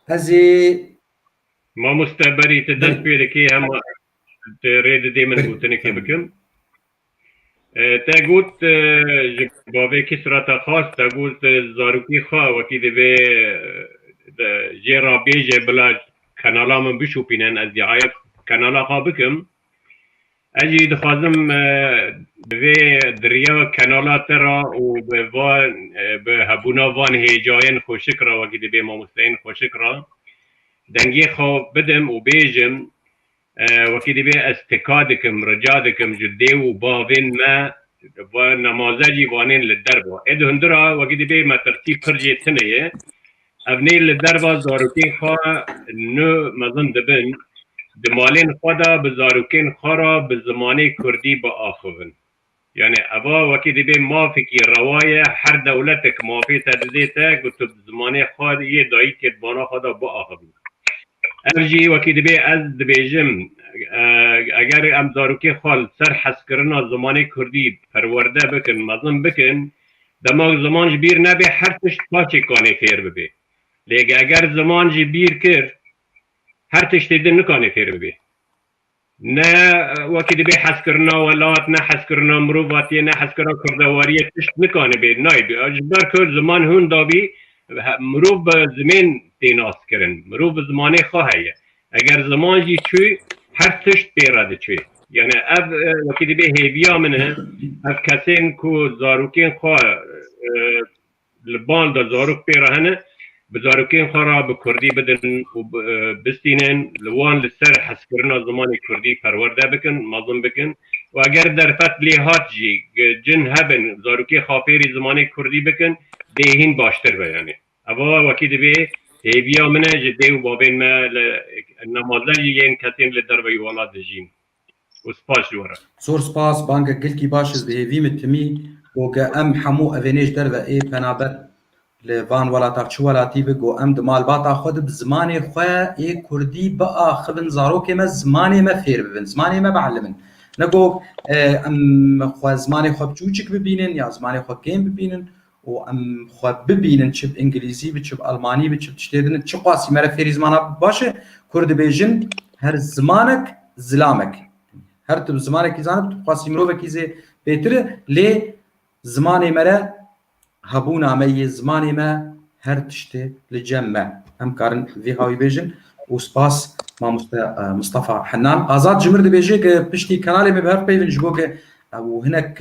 Ez ê Mamoste berî tu dest pê dikî hema tu rê didî min gotinikê bikim. Te got ji bavê kî surata xas te got zarokî xwe wekî divê jê re bêje bila kanala min bişopînin ez dîayek kanala xwe bikim. Ez jî dixwazim bi vê diriya kanala te re û bi van bi hebûna van hêjayên xweşik re wekî dibê mamosteyên xweşik re dengê xwe bidim û bêjim wekî dibê ez tika dikim rica dikim ji dê û bavên me va nemaze jî vanên li derve ê di hundir a wekî dibê me tirsî pir jê tune ye Evnî li derva zarokên xwe nû mezin dibin, di malên xwe de bi zarokên xwe re bi zimanê kurdî biaxivin. Yanî eva wekî dibê mafekî rewa ye, her dewletek mafê te didête ku tu bi zimanê xwe yê dayîkê di bana xwe de biaxivî. Ev jî wekî dibê ez dibêjim eger em zarokên xwe li ser hezkirina zimanê kurdî perwerde bikin, mezin bikin Dema ku ziman ji bîr nebe her tişt paşê kanê fêr bibe. Lê eger ziman ji bîr kir her tiştê din nikanê fêr bibe. Ne wekî dibe hezkirina welat, ne hezkirina mirovatiyê, ne hezkirina kurdewariyê tişt nikanibe, naybe. Ji ber ku ziman hûn dabî mirov bi zimên tê naskirin. Mirov bi zimanê xwe heye. Eger ziman jî çû, her tişt pê re diçû. Yanî ev wekî dibê hêviya min e, ev kesên ku zarokên xwe li bal de zarok pê re hene, bi zarokên xwe re bi kurdî bidin û bistînin, li wan li ser hezkirina zimanê kurdî perwerde bikin, mezin bikin û eger derfet lê hat jî, cin hebin zarokê xapêrî zimanê kurdî bikin, dê hîn baştir be yanî. Eva wekî divê hêviya min e ji dê û bavên me li nemaleyê yên ke tên li derveyî welat dijîn û spas ji we re. Zor spas, bangek gilkî baş ez dihêvî min timî got ke em hemû evê nê ji derve ê penaber li van welata çi welatî bi got em di malbata xwe di bi zimanê xwe ê kurdî biaxivin zarokê me zimanê me fêr bibin zimanê me bielimin ne got em xwe zimanê xwe biçûçik bibînin ya zimanê xwe kêm bibînin û em xwe bibînin çi bi îngilîzî bi, çi bi elmanî bi, çi bi tiştê din, çiqasî me re fêrî zimana bibin baş e. Kurd dibêjin her zimanek zilamek e. Her tu bi zimanekî zanibî tu bixwasî mirovekî zê pêtir e. Lê zimanê me re hebûna me yê zimanê me her tiştê li cem me. Em karin vê hawî bêjin û spas mamoste Mistefa Henan. Azad Cimir dibêje ke piştî kanalê me bi hev peyvin ji bo ke ew hinek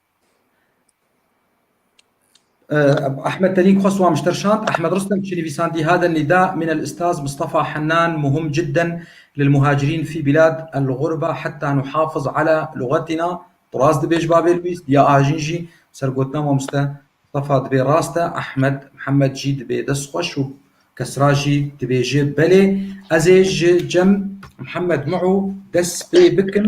Ahmed Telîk xwest wan ji ter şand. Ahmed Ristem çi nivîsandî Hada nîda min el Ustaz Mistefa Hennan muhim cidden lil muhacirîn fî bîlad el ğurba heta nuhafiz ala luxetîna Tu rast dibê ji bavê Lwîs ya ajîn jî ser gotina mamoste Mistefa dibê rast e Ahmed Mihemed jî dibê dest xweş û kesra jî dibêje belê. Ez ê ji cem Mihemed Mu'u dest pê bikim.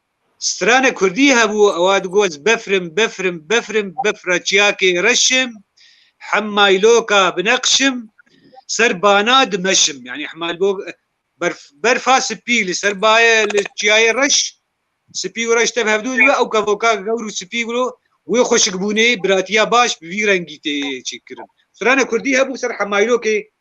Strana kurdî hebû ewa digot befrim befrim befrim befra çiyakê reşim hemayloka bineqşim ser bana dimeşim yanî hemalbok berf berfa sipî li ser bayê li çiyayê reş sipî û reş tev hevdû dibe ew kevoka gewr û sipî guro wê xweşikbûnê biratiya baş bi vî rengî tê çêkirin. Strana kurdî hebû ser hemaylokê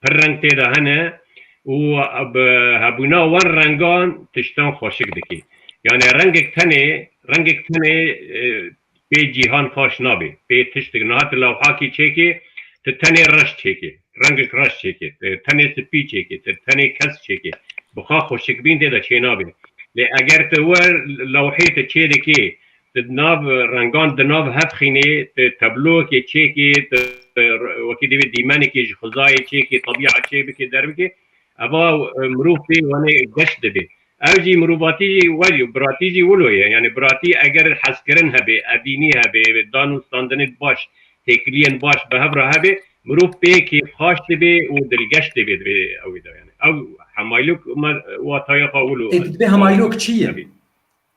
Pir reng tê de hene û bi hebûna wan rengan tiştan xweşik dike. Yanê rengek tenê rengek tenê pê cîhan xweş nabê, pê tiştik niha tu lewhakî çêkê tu tenê reş çêkê, rengek reş çêkê, tu tenê spî çêkê, tu tenê kesk çêkê bixa xweşikbîn tê de çênabê. Lê eger tu wer lewhê tu çêdikê Di nav rengan di nav hev xînê tu tabloyekê çêkê tu wekî divê dîmenekê ji xizayê çêkê tebîa çê bikê derbikê eva mirov pê wanê geş dibê. Ew jî mirovatî jî wel yo biratî jî wilo ye yanê biratî eger hezkirin hebê, evînî hebê, dan û standinê baş, têkiliyên baş bi hev re hebê mirov pê kêfxaş dibê û dilgeş dibê divê ewê de yanê ew hemaylok me wataya xwe wilo ez dibê. Hemaylok çi ye?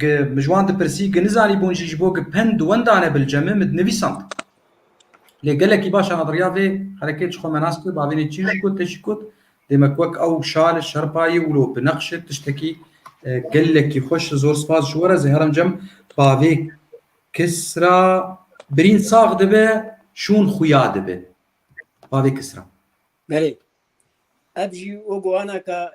Gi min ji wan dipirsî, gi nizanî bûn jî ji bo gi pend di wenda ne bilceme min dinivîsand. Lê gelekî baş e adriya vê herekê ji xwe me nas bike, bavênê çî jî got te jî got, dê me wek ew şal e, şerpa ye wilo bineqş e, tiştekî gelekî xweş e, zor spas ji we re, zêheremcem bavê Kisra birîn sax dibe, şûn xuya dibe. Bavê Kisra. Belê. Ev jî o guhana ka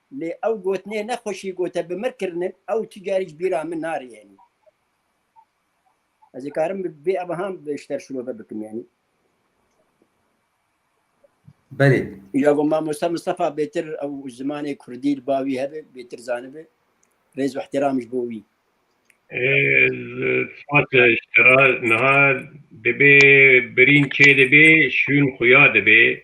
Lê ew gotinê ne xweşî gote bi mir kirinin ew tu carî ji bîra min nari yanî. Ez ê karim vê evahan ji te şirove bikim yanî. Belê. Ya got mamosta Mistefa bêtir ew zimanê kurdî li ba wî hebe bêtir zanibe. Rêz û îhtîram ji bo wî. Fatih Ştera niha dibê birîn çê dibê şûn xuya dibê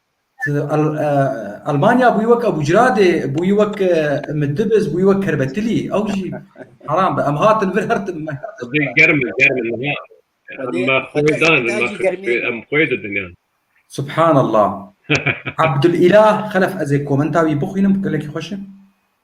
Almanya bûyî wek Ebûcradê, bûyî wek Middibiz, bûyî wek Kerbetilî. Ew jî heram be. Em hatin vir her tim. Germ e, germ e niha. Em xwê dan, em xwê didin yan. Subhanallah. Abdulîlah Xelef ez ê komenta wî bixwînim gelekî xweş e.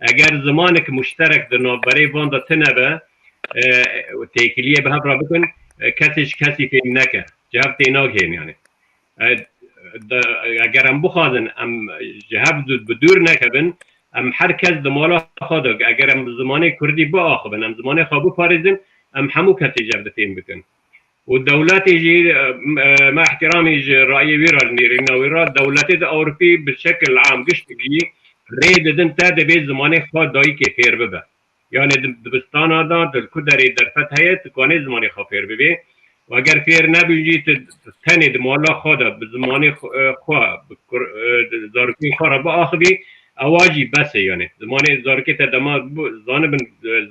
Eger zimanek muşterek di navberê van de tune be û têkiliyê bi hev re bikin, kesê ji kesî fêm neke, ji hev tênagihên yanî. Eger em bixwazin em ji hev bi dûr nekevin, em her kes di mala xwe de eger em zimanê kurdî biaxivin, em zimanê xwe biparêzin, em hemû kesê ji hev dê fêm bikin. û dewletê jî me îhtîramî ji rayî wî re nêrîna wî re dewletê di ewropî bi şekil am giştîgî rê didin te dibê zimanê xwe dayîkê fêr bibe yanê di dibistana de tu ku derê derfet heye tu kanê zimanê xwe fêr bibê û eger fêr nebû jî tu tenê di mala xwe de bi zimanê xwe bi zarokê xwe re biaxivî ewa jî bes e yanê zimanê zarokê te dema zanibin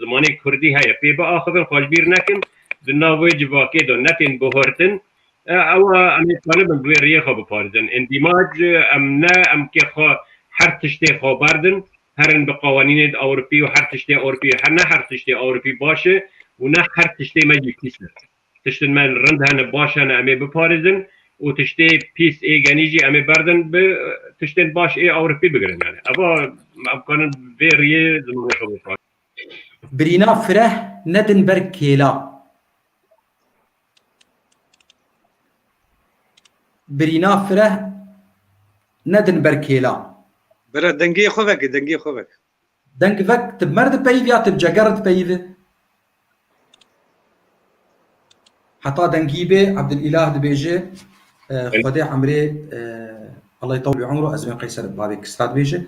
zimanê kurdî heye pê biaxivin xwe ji bîr nekin. Di nav wê civakê de ne tên bihurtin, ewa em ê talibin bi wê riyê xwe biparêzin. Ên dîmac em ne em kê xwe her tiştê xwe berdin, herin bi qawanînê di Ewropî û her tiştê Ewropî ne her tiştê Ewropî baş e û ne her tiştê me jî pîs e. Tiştin me rind hene, baş hene em ê biparêzin û tiştê pîs ê genî jî em ê berdin bi tiştên baş ê Ewropî bigirin. Ewa em karin bi vê riyê zimanê xwe biparêzin. Birîna fireh nedin ber kêla. Birîna fireh nedin ber kêla. Bira dengê xwe veke, dengê xwe veke. Deng vek ti bi mer dipeyivî ya ti bi ceger re dipeyivî? Heta dengî bê Ebdilîlah dibêje Xwedê emrê Allah yutawil bi umru ez wê qeyser bavê Kisra dibêje.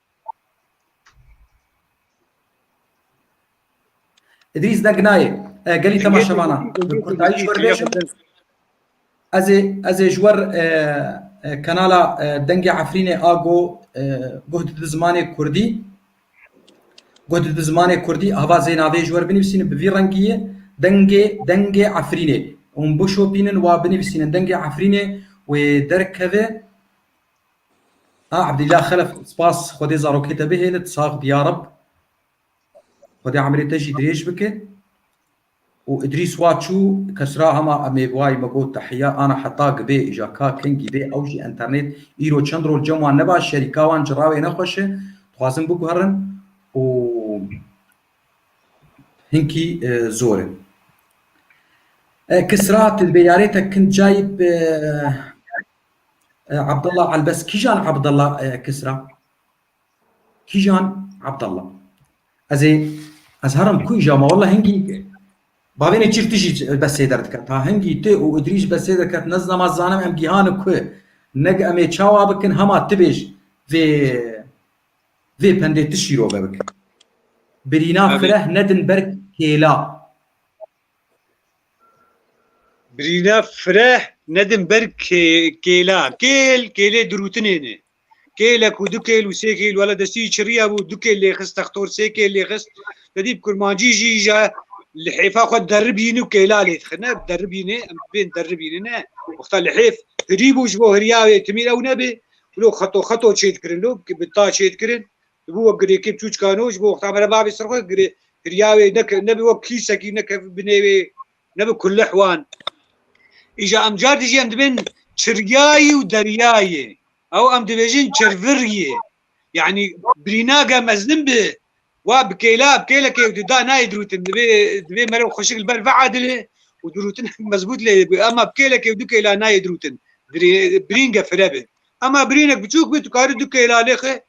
Îdrîs ne ginayê. Gelî tema şemana. Bi kurdayî ji we re bêjim. Ez ê ez ê ji we re kanala Dengê Efrînê a go guh dide zimanê kurdî. Guh dide zimanê kurdî hava zê navê ji we re binivîsînin bi vî rengî ye Dengê Dengê Efrînê. Hûn bişopînin wa binivîsînin Dengê Efrînê wê derkeve. A Abdillah Xelef spas Xwedê zarokê te bihêle tu sax bi ya Reb. Xwedê emirê te jî dirêj bike. Û Îdrîs wa çû kesra hema emê vay me got tehiya ana heta gibê îja ka kin gîbê ew jî enternêt îro çend rol cem wan nebaş şerîka wan cirawê ne xweş e dixwazin biguherin û hinkî zor e. Kisra tu dibê yarê te kin cayê Abdullah Albes kîjan Abdullah Kisra? Kîjan Abdullah? Ez ê ez herim ku îja ma walla hingî bavênê çîr tu jî bes sêder dike. Ta hingî tu û Idrîs bes sêder ket ne zina ma zanim em gîhani ku ne em ê çawa bikin hema tu bêj vê vê pendê tu şîrove bikin. Birîna fireh nedin ber kêla. Birîna fireh nedin ber kêla. Kêl, kêlê dirûtinê ne. Kêle ku du kêl û sê kêl wala destî çiriya bû, du kêl lêxist textor, sê kêl lêxist. Te dît kurmancî jî ja li hêfa xwe deribîn û kêla lê dixine. Deribînê em bên deribînê ne. Wexta li hêf hirî bû ji bo hirîya wê timî ew nebê. Wilo xeto xeto çêdikirin lo bi ta çêdikirin. Dibû wek girêkê çûçkan û ji bo wexta me re bavê ser xwe girê giriya wê ne ne bi wek kîsekî ne kevbû binê wê ne bi kulih wan. Îja em car dijî em dibên çirgayî û deryayê ew em dibêjin çirviryê yanî birîna ge mezin bi wa bi kêla bi kêlekê ew dida nayê dirûtin dibê dibê mere xweşik li ber veedilê û dirûtin mezbût lê bi ema bi kêlekê du kêla nayê dirûtin birîn ge fire bi ema birînek biçûk bi tu karî du kêla lê xwe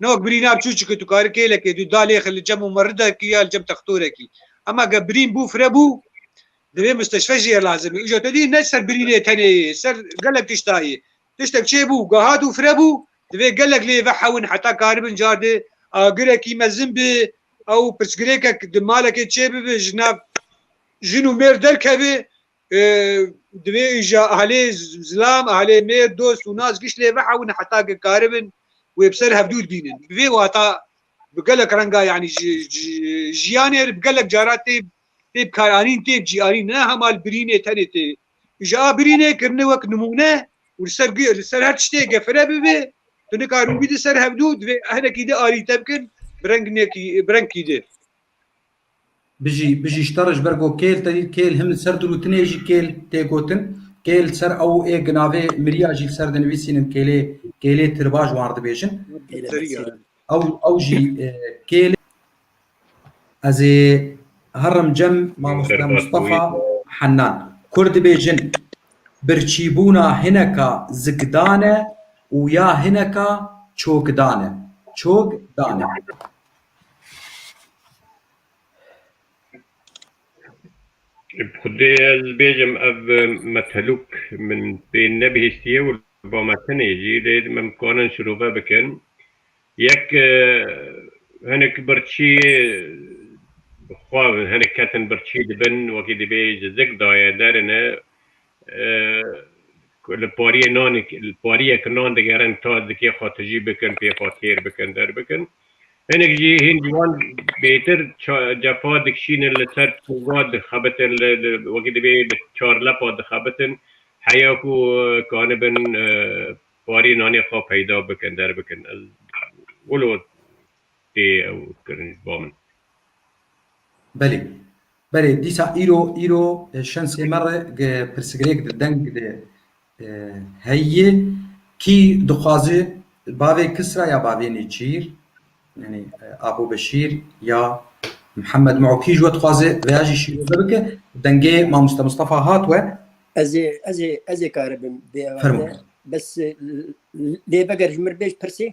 No birîn nav çû çike tu karî kêlekê dû da lêxe li cem û merridekî ya li cem textorekî. Hema ge birîn bû fire bû divê musteshfe jî ye lazimî. Îja te dî ne ser birînê tenê yê ser gelek tişta yê. Tiştek çê bû gehat û fire bû divê gelek lê vehewin heta karibin cardê agirekî mezin bê ew pirsgirêkek di malekê çê bibe ji nav jin û mêr derkeve Divê îşa ehlê zilam, ehlê mêr, dost û nas giş lê vehewin heta ke karibin wê bi ser hevdû dibînin. Bi vê wata bi gelek renga yanî ji jiyanê re bi gelek cara tê tê bikaranîn tê cîyanîn ne hema li birînê tenê tê. Îşa a birînê kirine wek nimûne û li ser li ser her tiştê gefile bibe tu nikarin wî di ser hevdû divê hinekî di alî te bikin bi rengekî bi rengkî di. Bijî, bijî ji te re ji ber ku kêl te dît, kêl him li ser dirûtinê jî kêl tê gotin. Kêl li ser ew ê gi navê mirîya jî li ser dinivîsînin kêlê, kêlê tirbaş wan dibêjin. Ew ew jî kêl e. Ez ê herim cem mamoste Mustafa Hennan. Kurd dibêjin birçîbûna hineka zikdan e û ya hineka çokdan e. Çokdan e. Xwedê ez bêjim ev metelûk min pê nebihîstiye û li ba me tenê jî lê me nikarin şirove bikin. Yek hinek birçî xwe hinek ketin birçî dibin wekî divê ji zik daye derine. ku li pariyê nanê li pariyek nan digerin ta dikê xwe tijî bikin, pê xwe têr bikin, derbikin. Hinek jî hîn ji wan bêtir cepa dikişînin li ser çûga dixebitin li wekî divê li çar lepa dixebitin heya ku kanibin pariyê nanê xwe peyda bikin, derbikin. Ez wilo tê ew kirin ba min. Belê. Belê dîsa îro îro şensê me re ge pirsgirêk di deng de heyî kî dixwazi bavê Kisra ya bavê Nêçîr yanî Apo Beşîr ya Mihemed Mû kî ji we dixwaze veya jî şîroze bike dengê Mamoste Mistefa hat we. Ez ê ez ê ez ê karibim bêewe te bes lê veger ji mir bêj pirsê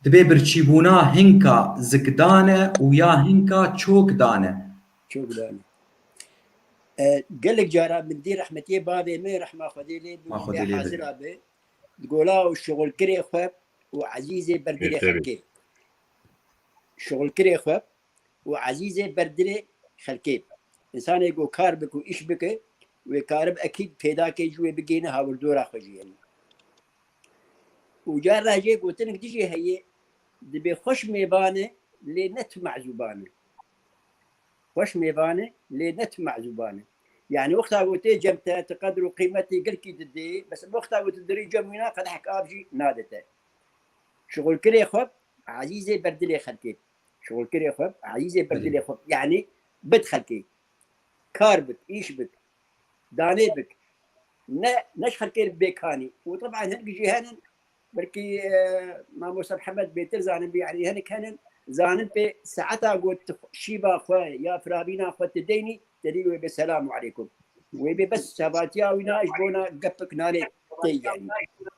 Divê birçîbûna hinka zikdane û ya hinka çokdane. Çokdane. Gelek cara min dî rehmetiyê bavê min rehma Xwedê lê bi wî lê hazir abe di gola û şixulkirê xwe û ezîzê ber dilê xelkê. Şixulkirê xwe û ezîzê ber dilê xelkê. Însanê ku kar bike û îş bike wê karib ekîd pêda ke jî wê bigihîne hawirdora xwe jî. Û car re jê gotinek din jî heye, dibê xweş mêvan e lê ne tu mezûban e. Xweş mêvan e lê ne tu mezûban e. Yanî wexta ku tê cem te, tu qedir û qîmetê girkî didê, bes ev wexta ku tu dirê cem wî ne, qedehek av jî nade te. Şixulkirê xwe ezîz e ber dilê xelkê. Şixulkirê xwe ezîz e ber dilê xwe. Yanî bid xelkê. Kar bid, îş bid, Danê bik. Ne ne ji xelkê re bê kanî û teban hinek jî henin belkî mamosta Mihemed bêtir zanin bî yanî hinek henin zanin pê saeta ku tu şîva xwe ya firavîna xwe tu deynî te dî wê bê selam û eleykum wê bê bes çavatiya wî na ji bona gepik nanê tê yanî.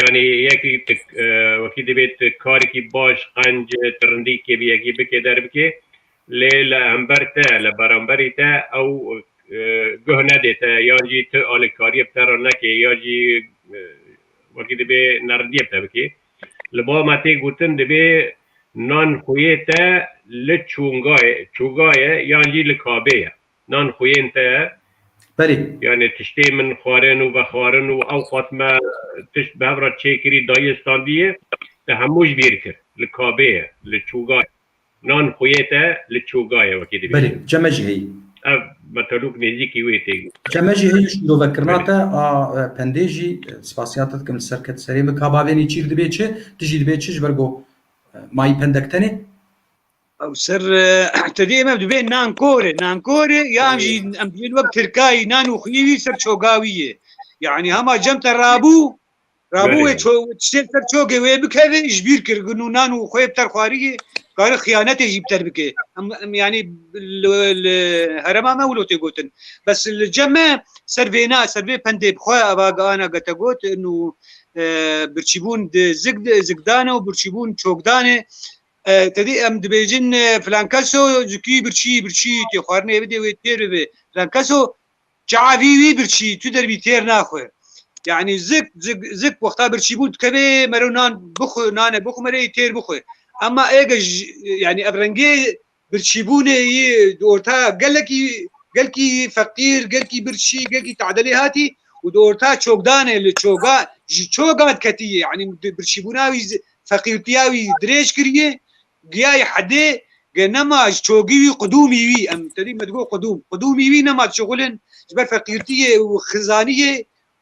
Yanî yekî wekî divê tu karekî baş, qenc, tirindî kê bi yekî bikê derbikê lê li hember te, li beramberî te ew guh nedê te yan jî tu alîkariyê bi te re nekê ya jî wekî divê nerindiyê bi te bikê. Li ba me tê gotin divê nan xweyê te li çûngayê, çûgayê yan jî li kabê ye. nan xuyên te ye. Berê. Yanê tiştê min xwarin û vexwarin û ewqat me tişt bi hev re çêkirî dayê standîyê te hemû ji bîr kir. Li kabê ye, li çûga ye. Nan xuyê te li çûga ye wekî dibêjin. Berê, çeme jî heyî. Ev metelûk nêzîkî wê tê got. Çeme jî heyî û şîrove kirina te a pendê jî spasiya te dikim li ser ket serê min ka bavênê çîr dibê çi, tu jî dibê çi ji ber ku mayî pendek tenê. Ew ser tu dê me dibê nankorê nankorê yan jî em dibên wek tirkayî nan û xuyî wî ser çogawî yê. Yanî hema cem te rabû rabû wê çê ser çogê wê bikevê ji bîr kir gun û nan û xuyê bi ter xwariyê kari xiyanetê jî bi ter bikê. Em yanî li herema me wilo tê gotin. Bes li cem me ser vêna ser vê pendê bi xwe eva ana gete got û birçîbûn di zig zigdanê û birçîbûn çokdanê Tedî em dibêjin filankeso zikî birçî birçî tê xwarinê bidê wê têr bibe filankeso çavî wî birçî tu derbî têr naxwe yanî zik zik zik wexta birçî bû dikevê mero nan bixwe nane bixwe merê têr bixwe ema êge yanî ev rengê birçîbûnê yî di orta gelekî gelkî feqîr gelkî birçî gelkî tadelî hatî û di orta çokdanê li çoga ji çoga diketî yanî birçîbûna wî Feqîr piya wî dirêj kiriye, giyayê hedê ge nema ji çogî wî qudûmî wî em tevî me digo qudûm qudûmî wî nema çixulin ji ber feqîrtiyê û xizaniyê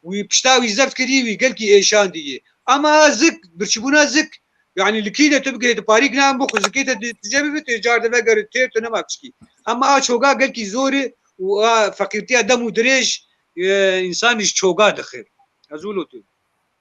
wî pişta wî zeft kiriye wî gelkî êşandiye ama zik birçîbûna zik yanî li kî de tu bigihê tu parîk nayê bo xwe zikê te tu jê bibî tu ji car de vegere têr tu nema pişkî ama a çoga gelkî zor e û a feqîrtiya dem û dirêj însanî ji çoga dixe ez wilo tu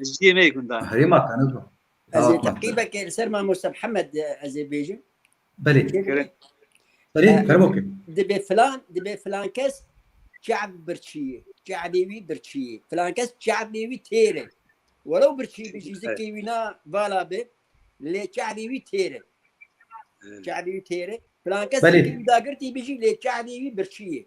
Jiyê me gundan. Herêma Qenedû. Ez ê teqîbekê li ser Mamoste Mihemed ez ê bêjim. Belê. Belê kerem okê. Dibê filan dibê filan kes çev birçiyê. Çevê wî birçiyê. Filan kes çevê wî têr e. Welew birçî bijî zikê wî na vala be lê çevê wî têr e. Çevê wî têr e. Filan kes Belê. zikê wî dagirtî bijî lê çevê wî birçiyê.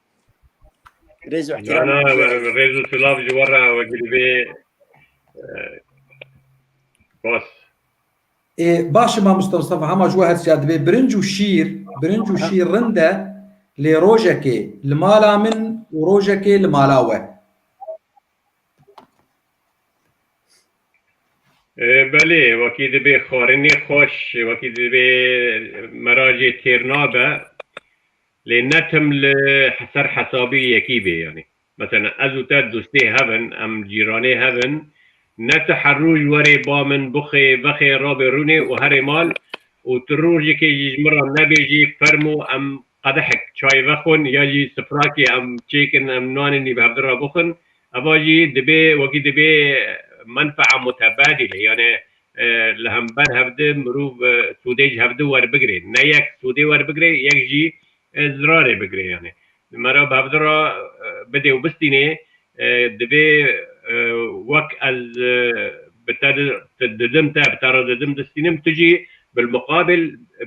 Rêz û ihtiram. Na na rêz û silav ji we re wekî bê. Bas. Ê baş e mamosta Mustafa hema ji we her siya dibê birinc û şîr, birinc û şîr rind e lê rojekê li mala min û rojekê li mala we. Belê wekî dibê xwarinê xweş, wekî dibê meracê têr nabe. Lê ne tim li ser hesabê yekî bê. Yanî mesela ez û te dostê hev in, em cîranê hev in, ne tu her roj werê ba min bixê, vexê, rabê rûnê û herê mal û tu rojekê jî ji min re nebêjî fermû em qedehek çayê vexwin ya jî sifrakê em çêkin em nanê nîv hevdin re bixwin. Eva jî dibê wekî dibê menfaa mutebadîle. Yanî li hember hev di mirov sûdê ji hev di werbigire. Ne yek sûdê werbigire yek jî zirarê bigire yanê merov bi hev di re bidê û bistînê divê wek ez bi te didim te bi te re didim distînim tu jî bilmuqabil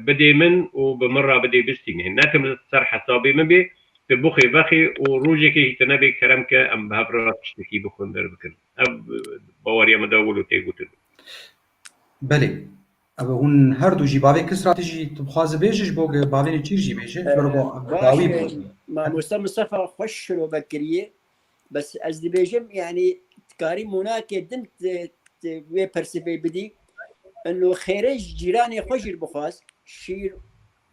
bidê min û bi min re bidê bistînê. Ne tim li ser hesabê min bê tu bixwe vexwe û rojekê jî tu nebê kerem ke em bi hev re tiştekî bixwin derbikin. Ev baweriya min de wilo tê gotin. Belê. Ev hûn her du jî bavê Kisra tu jî tu bixwazi bêji ji bo ge bavê Nêçîr jî bêji. Tu re bo dawî bo. Mamosta Mistefa xweş şirove kiriye. Bes ez dibêjim yanî tu karî monakê din wê persivê bidî. Ino xêrê ji cîranê xwe jî bixwaz. Şîr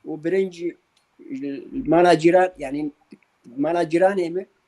û birinc li mala cîran yanî mala cîranê min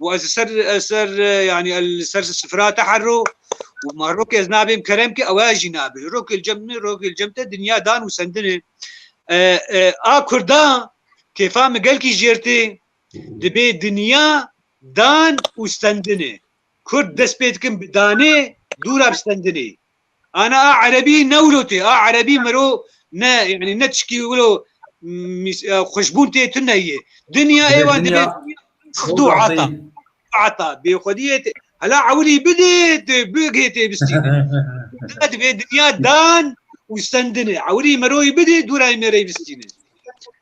و ez li ser ez ser yanî ez li ser sifra te herro û ma rokê ez nabêm kerem ki ew jî nabê rokê li cem min rokê li cem te dinya dan û sendinê a kurda kêfa min gelkî jêrtê dibê dinya dan û sendinê kurd dest pê dikin bi danê dûra bi sendinê Ana a erebî ne wilo tê a erebî miro ne yani ne tişkî wilo xuşbûn tê tu neyê. Dinya êwan dibê xdu ata. Ata bêxwediyê tê. Hela ewilî bidê tu bigê tê bistî. Dibê dinya dan û sendinê. Ewilî miroyî bidê dûrayê mêreyê bistînê.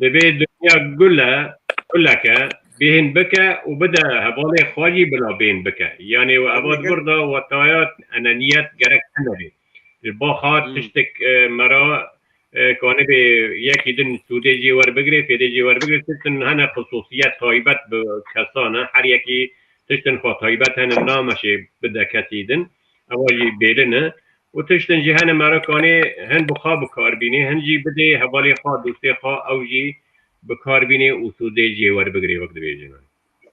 Divê dinya gule guleke bêhn bike û bide hevalê xwe jî bila bêhn bike. Yanê we eva di vir de wataya enaniyet gerek tune bê. Ji baxa tiştek me ra ka nebe yekî din sûdê jê werbigire, fêdê jê werbigire tiştin hene xisûsiyet taybet bi kesan e. Her yekî tiştin xwe taybet hene nameşê bide kesî din. Ewa jî bêlin e û tiştên ji hene merekanê hin bi xwe bikar bînê, hin jî bidê hevalê xwe, dostê xwe ew jî bikar bînê û sûdê jê werbigirê wek dibêjin.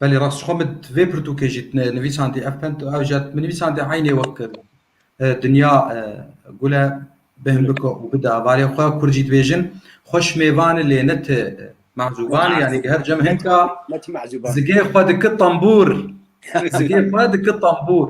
Belê rast jixwe min vê pirtûkê jî nivîsandî ev pent û ew jî min nivîsandî eynê wek dinya gul e bêhn bike û bide hevalê xwe. Kurd jî dibêjin xwe şimêvane lê ne ti mehzûbane yanî di her cem hinka zigê xwe diki tembûr, zigê xwe diki tembûr.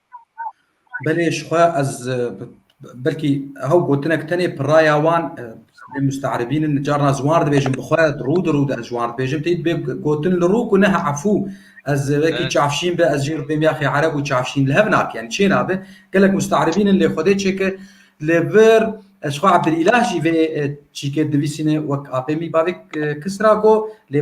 Belê ji xwe ez belkî ew gotinek tenê piraya wan lê musterebîn in carna ji wan re dibêjin bi xwe rû di rû de ez ji wan re dibêjim tê dibê gotin li rû ku neha efû ez wekî çavşîn be ez jî rû pêm yaxê ereb û çavşîn li hev nake yani çê nabe gelek musterebîn in lê xwedê çêke li vir ez xwe Ebdilîlah jî vê çîkê divîsîne wek apê mî bavê kisra got lê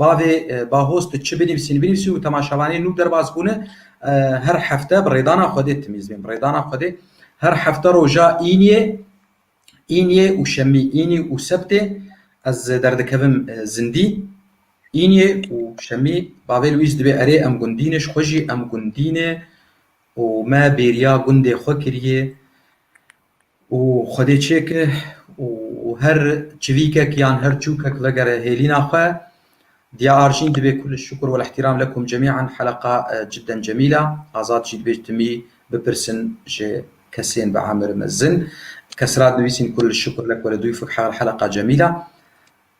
Bavê Bahoz tu çi binivîsî nivînivîsî û temaşevanê nû derbas bûne her hefte bi rêdana Xwedê timîzbên bi rêdana Xwedê her hefte roja Îniyê Îniyê û Şemî Înî û Sebtê ez derdikevim zindî Îniyê û Şemî Bavê Lwîz dibê erê em gundîne ji xwe jî em gundîne û me bêriya gundê xwe kiriyê Û Xwedê çêke û her çivîkek yan her çûkek vegere hêlîna xwe. Diya Arjîn dibê kulliş şukur wal îhtîram lekum cemî'an heleqa cidden cemîl a. Azad jî dibê timî bipirsin ji kesên bi emir mezin. Kesra dinivîsîn kulliş şukur lek weledoîfuk heleqa cemîl a.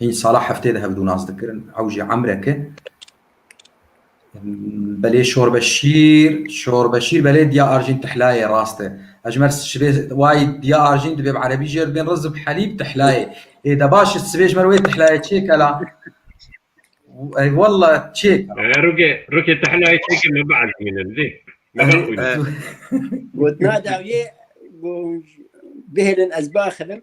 Hîn sala heftê de hevdû nas dikirin. Ew jî emreke. Belê Şorbeşîr, Şorbeşîr belê diya arjîn tihlayê rast e. Ejmer şibê wayî diya arjîn dibê bi erebî jê re dibên rizb helîb tihlayê. Ê de baş e sibê ji ber wê tihlayê çêke la. Ey walla çêke. Rukê, rukê tihlayê çêke me bielîmîne didê. Me bixwîne. Gotina dawiyê bihêlin ez biaxivim.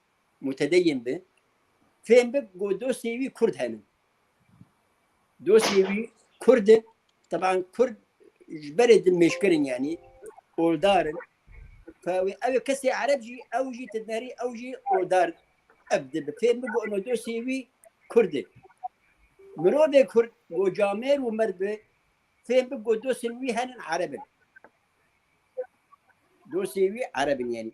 Mutedeyyin bi, fêm bi ku dostê wî kurd hene. Dostê wî kurd in, teban kurd ji berê din mêşkir in yanî, oldar in. Ka wê ew ê kesê ereb jî, ew jî ti dinêrî, ew jî oldar ev dibi. Fêm bi ku ino dostê wî kurd e. Mirovê kurd ku camêr û merd bi, fêm bi ku dostên wî henin ereb in. Dostê wî ereb in yanî.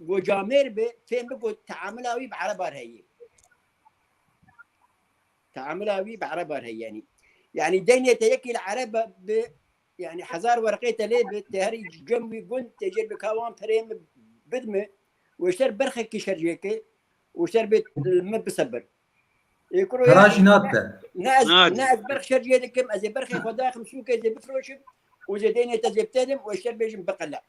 Gocamêr bi fêm bigo teamila wî bi erebar heye. Teamila wî bi erebar heye yanî. Yanî deynê te yekî li ereb bi yani hezar werqê te lê bi te herî cem wî gund te jê bi kawan perê min bidme û şer berxekî şer jêke û şer bê min bisebir. Garajî natte. Ne ez ne ez berx şer jê dikim ez ê berxê xwe daxim şûkê zê bifroşim û zê deynê te zê bitelim û şer bêjim biqele.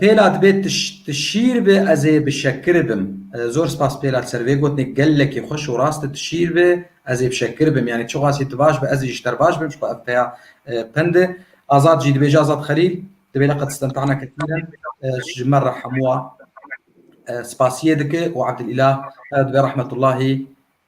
Pêla dibê tu şîr bi ez ê bi şekir bim. Zor spas Pêla li ser vê gotinê gelekî xweş û rast e tu şîr bi ez ê bi şekir bim yanî çiqasî tu baş bi ez ê ji ter baş bim ji xwe ev peya pind e. Azad jî dibêje Azad Xelîl dibê li Qedistan tahna ketine ji me re hemû a spasiyê dike û Abdul Îlah dibê Rahmetullahî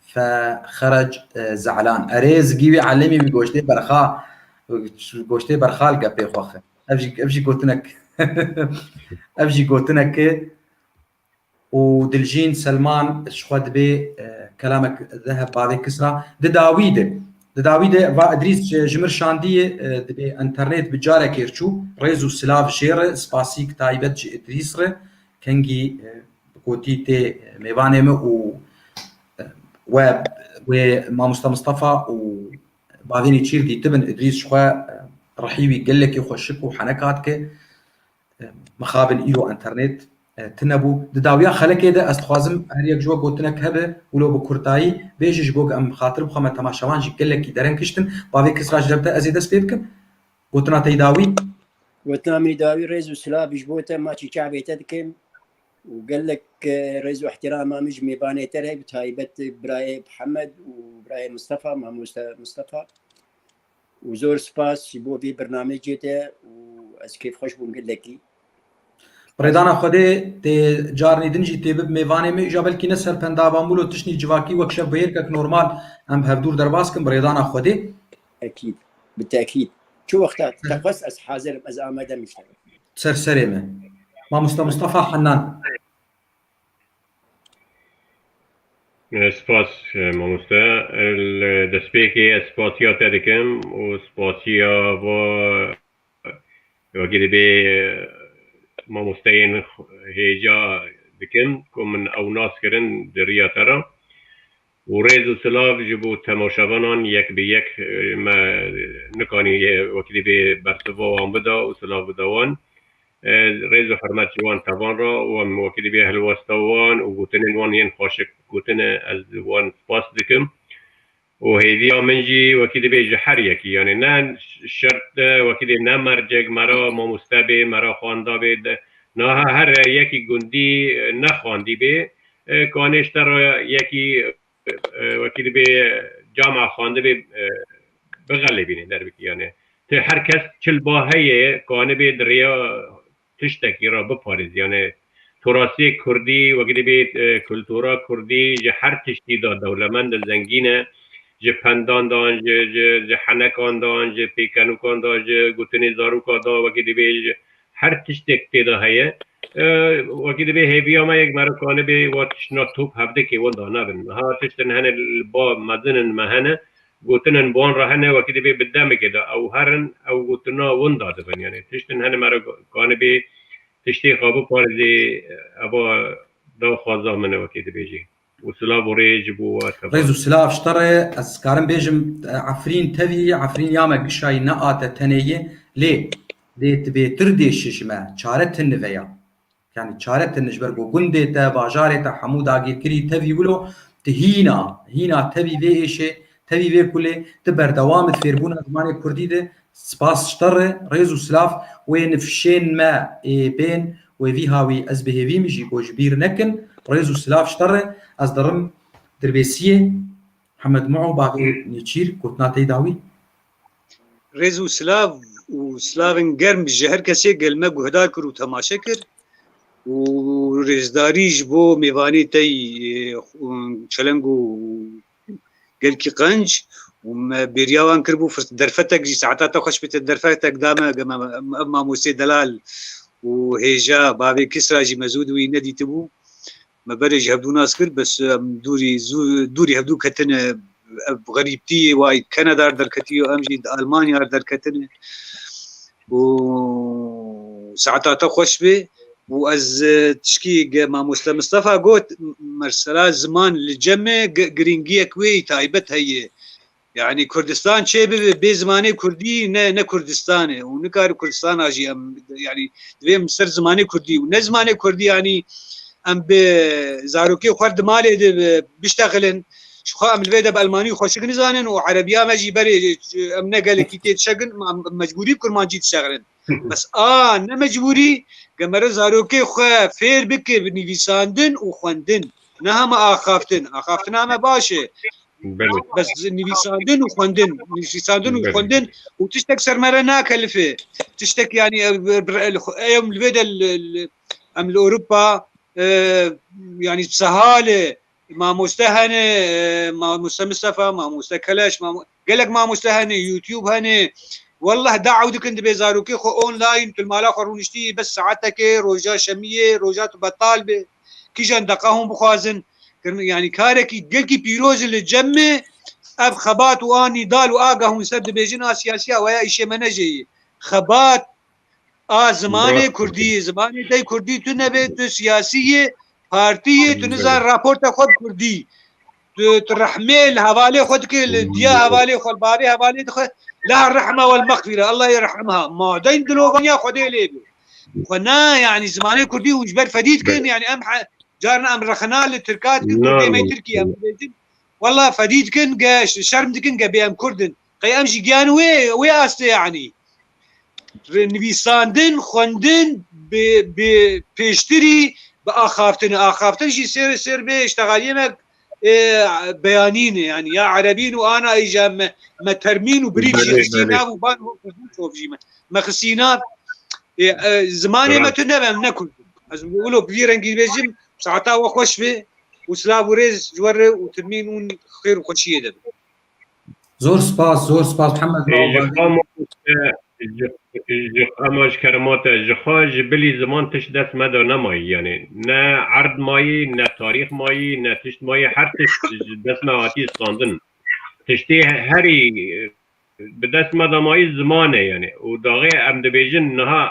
Fe Xerec Ze'lan erê zigî wî Elîmî bi goştê berxa goştê berxal gepê xwe xir. Ev jî ev jî gotinek ev jî gotinek û Diljîn Selman ji xwe dibê kelamek zeheb bavê kisra di dawî de di dawî de va Idrîs ji mir şandiyê dibê internet bi carekê çû rêz û silav jê re spasîk taybet ji Idrîs re kengî Kotî tê mêvanê me û we wê Mamosta Mistefa û bavênî çîr dîtibin. Îdrîs ji xwe rihî wî gelekî xweşik û henek hat ke mixabin îro enternêt tinebû. Di dawiya xelekê de ez dixwazim her yek ji we gotinek hebe û lo bi kurtayî bêje ji bo ke em xatir bixwe me temaşevan jî gelekî dereng kiştin. Bavê Kisra ji dewte ez ê dest pê bikim. Gotina te yî dawî? Gotina min yî dawî rêz û silavî ji bo te maçî çavê te dikim û gelek rêz û îhtîrama min ji mêvanê te re bi taybet birayê Mihemed û birayê Mistefa mamoste Mistefa û zor spas ji bo vê birnamecê te û ez kêfxweş bûm gelekî. Rêdana Xwedê tê carnî din jî tê bib mêvanê min îja belkî ne ser pendava mûl û tiştî civakî wek şev bi hêrkek normal em bi hevdûr derbas kim bi rêdana Xwedê. Ekîd. Bi tekîd. Çi wexta te xwest ez hazir im, ez amade im îşlig. Ser serê me. Mamosta Mustafa Henan. Spas mamoste. Li destpêkê ez spasiya te dikim û spasiya va wekî dibê mamosteyên hêja dikim ku min ew nas kirin di riya te re. Û rêz û silav ji bo temaşevanan yek bi yek me nikanî wekî dî bê bersiva wan bida û silav bida wan. Rêz û hurmet ji wan tevan re û em wekî dî bê hilwesta wan û gotinên wan yên xweşik gotin e ez wan spas dikim. Û hêviya min jî wekî dî bê ji her yekî yanê ne şert e wekî dî ne mercek me re mamoste bê me re xwenda bê de niha her yekî gundî ne xwendî bê Kanêş te re yekî wekî dibê cama xwendibê bixelêbînê derbikî yanê ti her kes çil ba heye kanibê di rêya tiştekî re biparêzî yanê to rastiyê kurdî wekî dibê kultura kurdî ji her tiştî de dewlemend e zengîn e ji pendan de an ji henekan de an ji pêkenûkan de ji gotinê zaroka de wekî dibê ji her tiştek tê de heye Wekî divê hêviya me yek merok anibê wa tiştna top hevdikê wenda nebin. Niha tiştin hene li ba mezin in me hene, gotin in bi wan re hene wekî divê bi demekê de ew herin ew gotina wenda dibin. Yanî tiştin hene merok anibê tiştê xwe biparêzê eva daxwaza min e wekî dibêjî. û silav û rê ji bo we tevane. Rêz û silav ji te re, ez dikarim bêjim Efrîn tevî ye, Efrîn ya me gişayî ne a te tenê ye, lê dê tu bêtir dêşî ji me, çare ti nive ya. Yanî çare ti ni ji ber ku gundê te, bajarê te hemû dagîrkirî tevî wilo tu hîna, hîna tevî vê êşê Tevî vê kulê ti berdewam it fêrbûna zimanê kurdî de spas ji te re rêz û silav wê nifşên me ê bên wê vî hawî ez bi hêvî min jî got ji bîr nekin rêz û silav ji te re ez dirim dirbêsiyê Hemed Muo Baqî Nêçîr gotina tey da wî. Rêz û silav û silavên germ ji her kesê gel me guhdar kir û temaşe kir û rêzdarî ji bo mêvanê tey çeleng û Gelkî qenc û me bêriya wan kiribû derfetek jî saeta te xweş bite derfetek da me gema ev mamosê delal û hêja bavê Kisra jî me zû di wî nedîtibû. Me berê ji hevdû nas kir bes em dûrî zû dûrî hevdû ketin ev xerîbtî yê way Kanada derketiyo em jî di Almanya derketin. û saeta te xweş bê û ez tişkî ge mamoste Mistefa got mersera ziman li cemê girîngiyek wê yî taybet heye yanî Kurdistan çê bibe bê zimanê Kurdî ne ne Kurdistan e û nikare Kurdistana jî em yanî divê em ser zimanê Kurdî û ne zimanê Kurdî yanî em bi zarokê xwe di malê de biştexilin Şixwe em li vê de bi Elmanî xweşik nizanin û Erebiya me jî berê em ne gelekî tê dişegin em mecbûrî bi Kurmancî dişegirin. Bes a ne mecbûrî ge mere zarokê xwe fêr bike bi nivîsandin û xwendin ne hema axaftin. Axaftina me baş e. Belê. Bes nivîsandin û xwendin nivîsandin û Belê. xwendin û tiştek ser me re nakelifê. Tiştek yanî ev bir el xwe- em li vê de li- li- em li Ewropa e, yanî sehal e. Mamoste hene, mamoste Mustafa, mamoste Keleş, gelek mamoste hene, YouTube hene. Wallah daew dikin dibê zarokê xwe online tu li mala xwe rûniştî bes saetekê roja şemiyê roja tu betal bê. Kîjan deqa hûn bixwazin yani karekî gelkî pîroz e li cem me ev xebat û a nîdal û a ge hûn ser dibêjin a siyasiya we ya îşê me ne jê yê. Xebat A zimanê Kurdî, zimanê te Kurdî tu nebê tu siyasî yê, partî yê, tu nizan raporta xwe bi Kurdî. Tu tu rehmê li hevalê xwe dikê, li diya hevalê xwe, li bavê hevalê dixwe. La rehma wel mexfîre, Allah yê rehim ha. Madeyn dilovaniya Xwedê lê bê. Xwe na yanî zimanê Kurdî hûn ji ber fedî dikin yanî em carna em rexina li Tirka dikin Kurdê me Tirkî em dibêjin. Wallah fedî dikin ge şerm dikin ge bê em Kurd in. Qey em jî giyan wê wê astê yanî nivîsandin, xwendin bi bi pêştirî bi axaftin axaftin jî sêr sêr bê îştegaliyê me beyanîn yanî ya erebîn û ana îja me me termîn û birîv jî xistî nav û ban hov jî me me xistî nav zimanê me tu nebe em ne kurd ez wilo bi vî rengî bêjim saeta we xweş bê û silav û rêz ji we re û termîn û xêr û xweşiyê de bi Zor spas, zor spas Hemed Ema ji kerema te ji xwe ji bilî ziman tişt dest meda nemayî yanê ne erd mayî ne tarîx mayî ne tişt mayî her tişt ji dest me hatî standin tiştê herî bi dest me de mayî ziman e yanê û daxê em dibêjin niha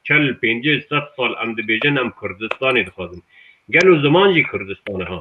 çel pêncî sed sal em dibêjin em Kurdistanê dixwazin gelo ziman jî Kurdistan e ha.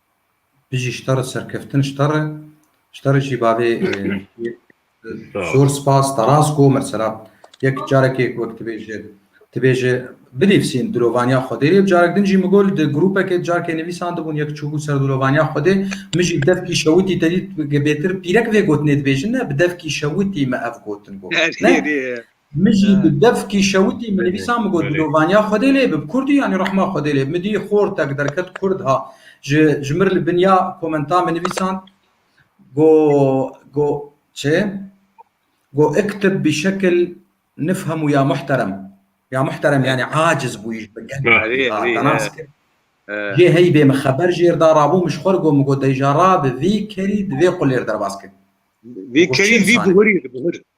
Bijî ji te re serkeftin ji te re ji te re jî bavê zor spas te rast got mesela yek carekê wek dibêje dibêje binivîsîn dirovaniya Xwedê yek carek din jî min got di grûpekê carekê nivîsan dibûn yek çûbû ser dirovaniya Xwedê min jî bi devkî şewitî te dît bêtir pîrek vê gotinê dibêjin ne bi devkî şewitî me ev gotin got ne Min jî bi devkî şewitî min nivîsa min got bilovaniya Xwedê lê bib Kurd î yanî rehma Xwedê lê bib min dî xor tek derket Kurd ha ji ji mir li bin ya komenta min nivîsand go go çi go iktib bi şekil nifhemu ya muhterem ya muhterem yanî aciz bûyî ji bin Jê heybê min xeber jêr da rabû min ji xwe re got min got dayî ja ra bi vî kerî di vê qulêr derbas kir. Vê kerî vî bihurî bihur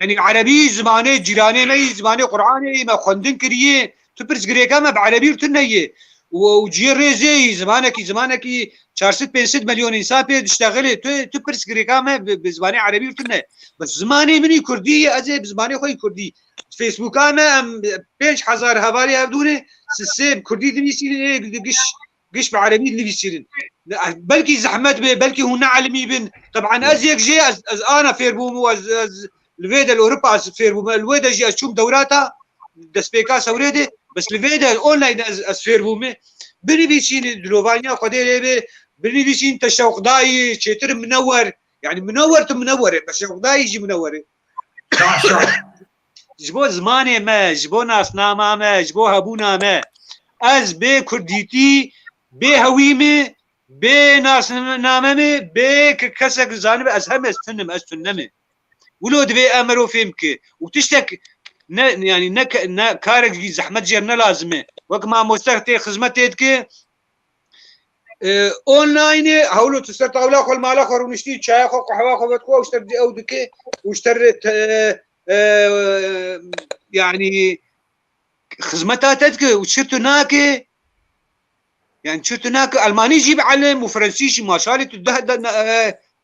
Yani Erebî zimanê cîranê me yî zimanê Qur'anê yî me xwendin kiriyê tu pirs girêka me bi Erebî û tu neyê û ciyê rêzê yî zimanekî zimanekî çarsid pênsid milyon însan pê diştexilê tu tu pirs girêka me bi zimanê Erebî û tu ne bi zimanê min yî Kurdî yê ez ê bi zimanê xwe yî Kurdî Facebooka me em pênc hezar hevalê hevdûnê sê bi Kurdî dinîsînê giş Giş bi erebî dinivîsînin. Belkî zehmet bê, belkî hûn neelimî bin. Teb'an ez yek jê ez ez ana fêr bûm û ez ez li vê de li Ewropa ez fêr bûm. Li wê de jî ez çûm dewrata destpêka sewrê de bes li vê de online de ez ez fêr bûm. Binivîsînin dilovaniya Xwedê lê bê, binivîsînin te şewqdayî, çêtir mine wer. Yani mine wer tu mine wer î, te şewqdayî jî mine wer î. Başa. Ji bo zimanê me, ji bo nasnama me, ji bo hebûna me. Ez bê kurdîtî, bê hewî me, bê nasname me, bê kesek zanime ez hem ez tunim, ez tunne me. Wilo divê em mero fêm ki û tiştek ne yani ne ne karek zehmet jê ne lazime. Wek mamoste tê xizmet tê dike Onlineê hewlo tu ser tawla xwe li mala xwe rûniştî çaya xwe qehewa xwe vet xwe ew ji te ew dike û ji te re yanî xizmeta te dike û çi tu nake yani çi tu nake Elmanî jî bielim û Frensî jî maşalî tu deh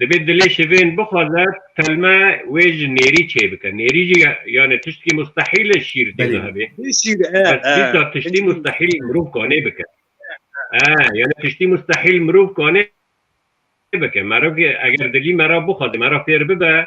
Dibê dilê şivên bixwaze telme wê ji nêrî çêbike. Nêrî jî yanê tiştkî mustehîl e şîr tê de hebê. Bes dîsa tiştî mustehîl mirov kanê bike. Ee yanê tiştî mustehîl mirov kanê bike. Merivkê eger dilî me ra bixwaze me ra fêr bibe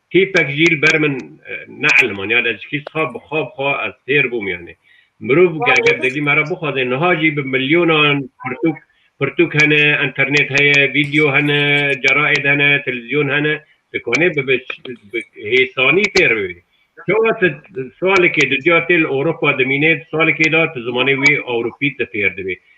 Tîpek jî li ber min neelimand. Ya ez jî siha bi xwe bi xwe ez fêr bûm yanê. Mirov eger dilî me re bixwaze niha jî bi milyonan pirtûk pirtûk hene, înternêt heye, vîdyo hene, ceraêd hene, televîzyon hene, dikanê bi bi hêsanî fêr bibî. Çawa tu salekê di cuya tê li Ewropa dimînê, di salekê de tu zimanê wî Ewropî tu fêr dibî.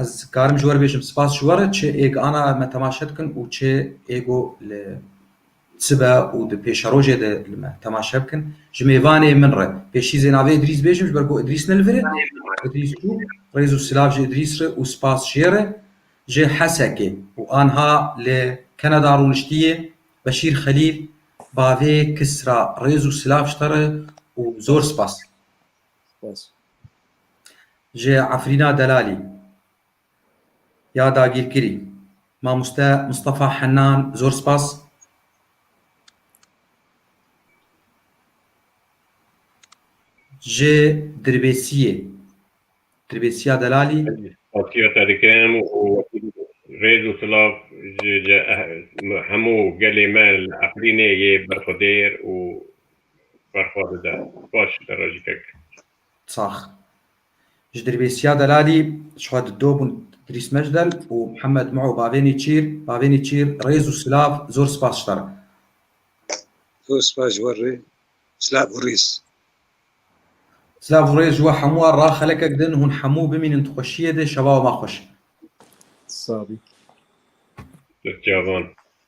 Ez karim ji we re bêjim spas ji we re çi êg ana me temaşe dikin û çi êgo li sibe û di pêşerojê de li me temaşe bikin. Ji mêvanê min re pêşîzê navê Îdrîs bêjim ji ber ku Îdrîs ne li vir e. Îdrîs çû. Rêz û silav ji Îdrîs re û spas ji yê re. Ji Hesekê û anha li Kanada rûniştiyê Beşîr Xelîl bavê Kisra rêz û silav ji te re û zor spas. Spas. Ji Efrîna Delalî ya dagîrkirî Mamoste Mistefa Henan zor spas. Ji Dirbêsiyê Dirbêsiya Delalî. Xasiyeta dikim û rêz û silav ji hemû gelê me li Efrînê yê berxwedêr û berxwe dide. Baş e rejikek. Sax. Ji Dirbêsiya Delalî ji xwe di do bûn Îdrîs Mecdel û Mihemed Mû Bavê Nêçîr. Bavê Nêçîr rêz û silav zor spas ji te re. Zor spas ji we re. Silav û rêz. Silav û rêz ji we hemû a ra xelekek din hûn hemû bimînin di xweşiyê de şevawa ma xweş. Sabî. Destçavan.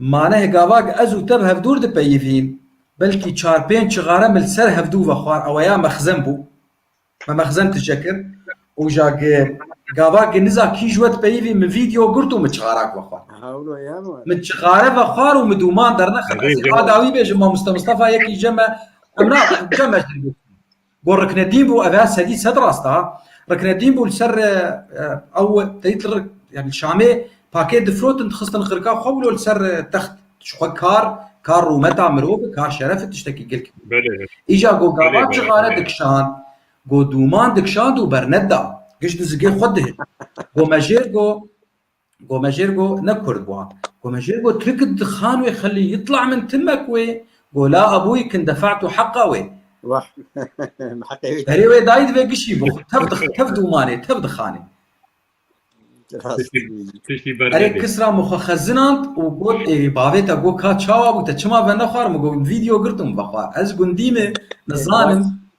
Ma neh gava ke ez û te bi hev dûr dipeyivîn, belkî çar pênc çixare me li ser hev dû ve xwar ewe ya mexzen bû. Me mexzen tije kir û ja ke gava ke niza kî ji we dipeyivî min vîdeo girt û min çixarak ve xwar. Min çixare ve xwar û min dûman dernexist. Ez ê a dawî bêjim mamoste Mistefa yekî ce me, em naxwin, ce me ji dir bikevin. Got Riknedîn bû ev e sedî sed rast a. Riknedîn bû li ser ew teyît li yani li Şamê pakê difirotin dixistin xirka xwe wilo li ser text ji xwe kar kar rûmeta mirov e kar şeref e tiştekî gil kir. Îja got gava cixare dikişand got dûman dikişand û berneda giş di zigê xwe dihê. Got mejêr got Gomejêrgo ne kurd bûa. Gomejêrgo Tirk di xan wê xelî yitla min timek wê go la abûyî kin defe'tu heqa wê. Wah. Heqê wê. Berê wê dayî divê gişî bo. Tev di tev dûmanê, tev di xanê. Tiştî ber Erê Kisra min xwe xezinand û got ê bavê te go ka çawa bû te çima venexwar min go vîdeo girtum vexwar ez gundî me nizanim